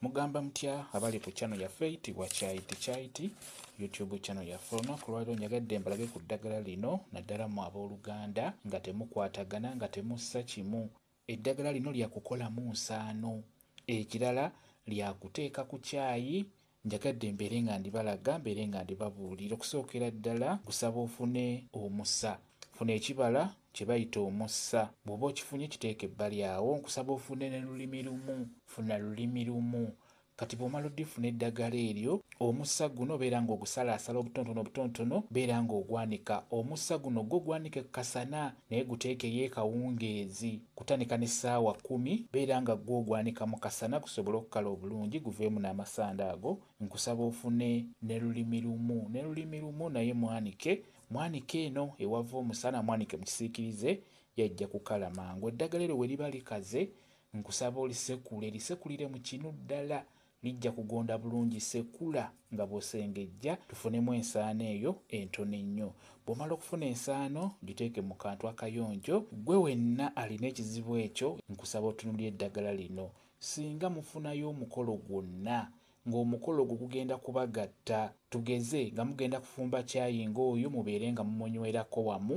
Mugamba mutya abali ku channel yaffe itibwa Chai to Chai Tea YouTube channel yaffe. Olunaku lwaliro njagadde mbalage ku ddagala lino naddala mu abooluganda nga temukwatagana nga temussa kimu. Eddagala lino lya kukolamu nsaano. Ekirala lya kuteeka ku caayi njagadde mbeere nga ndibalaga mbeere nga ndibabuulira okusookera ddala gusaba ofune omusa. Funa ekibala kye bayita omussa. Bw'oba okifunye kiteeke ebbali awo nkusaba ofune ne lulimi lumu. Funa lulimi lumu. Kati bw'omala odifuna eddagala eryo, omussa guno beera ng'ogusalaasala obutonotono obutonotono, beera ng'ogwanika. Omussa guno gwo gwanike ku kasana naye guteekeyo ekawungeezi kutanika ne ssaawa kkumi. Beera nga gwo ogwanika mu kasana gusobole okukala obulungi guveemu n'amasanda ago. Nkusaba ofune ne lulimi lumu. Ne lulimi lumu naye mwanike Mwanike eno ewava omusana mwanike mu kisiikirize yajja kukala mangu. Eddagala eryo bwe liba likaze nkusaba olisekule lisekulire mu kinu ddala lijja kugonda bulungi. Sekula nga bw'osengejja tufunemu ensaano eyo entono ennyo. Bw'omala okufuna ensaano giteeke mu kantu akayonjo. Ggwe wenna alina ekizibu ekyo nkusaba otunuulire eddagala lino. Ssinga mufunayo omukolo gwonna ng'omukolo ogwo gugenda kubagatta tugeze nga mugenda kufumba caayi ng'oyo mubeere nga mumunywerako wamu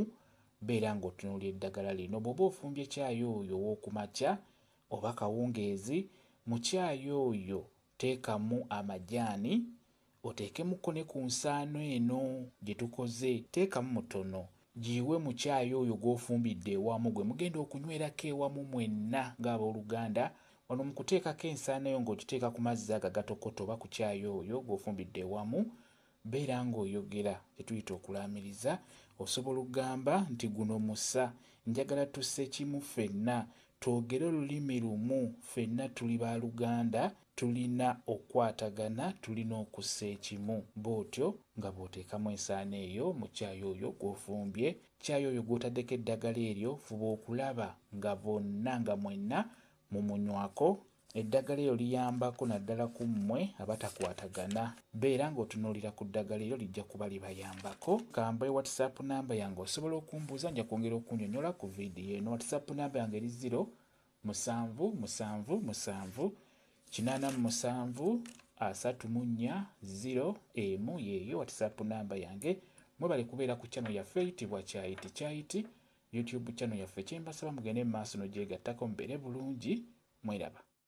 beera ng'otunuulira eddagala lino bw'oba ofumbye caayi oyo ow'oku makya oba kawungeezi mu caayi oyo teekamu amajaani oteekemuko ne ku nsaano eno gye tukoze teekamu mutono Giiwe mu caayi oyo gw'ofumbidde ewamu gwe mugenda okunywerako ewamu mwenna ng'abooluganda. Wano mu kuteekako ensaano yo ng'ogiteeka ku mazzi ago agatokota oba ku caayi oyo gw'ofumbidde ewamu, beera ng'oyogera kye tuyita okulaamiriza. Osobola okugamba nti, Guno musa. Njagala tusse kimu ffenna. Twogere olulimi lumu. Ffenna tuli ba luganda. Tulina okukwatagana, tulina okussa ekimu. Bw'otyo nga bw'oteekamu ensaano eyo mu caayi oyo gw'ofumbye, caayi oyo gw'otaddeko eddagala eryo, fuba okulaba nga bonna, nga mwenna mumunywako. Eddagala eryo liyambako naddala ku mmwe abatakwatagana. Beera nga otunuulira ku ddagala eryo, lijja kuba libayambako. Ka mbawe WhatsApp nnamba yange, osobola okumbuuza, nja kwongera okunnyonnyola ku vidiyo eno. WhatsApp nnamba yange eri ziro, Musanvu, musanvu, musanvu, kinaana mu musanvu, asatu mu nnya, ziro, emu, yeeyo WhatsApp namba yange. Mwebale kubeera ku channel yaffe eyitibwa Kyayiti Kyayiti, YouTube channel yaffe. Kye mbasaba mugende mu maaso n'ogyegattako mubeere bulungi. Mweraba.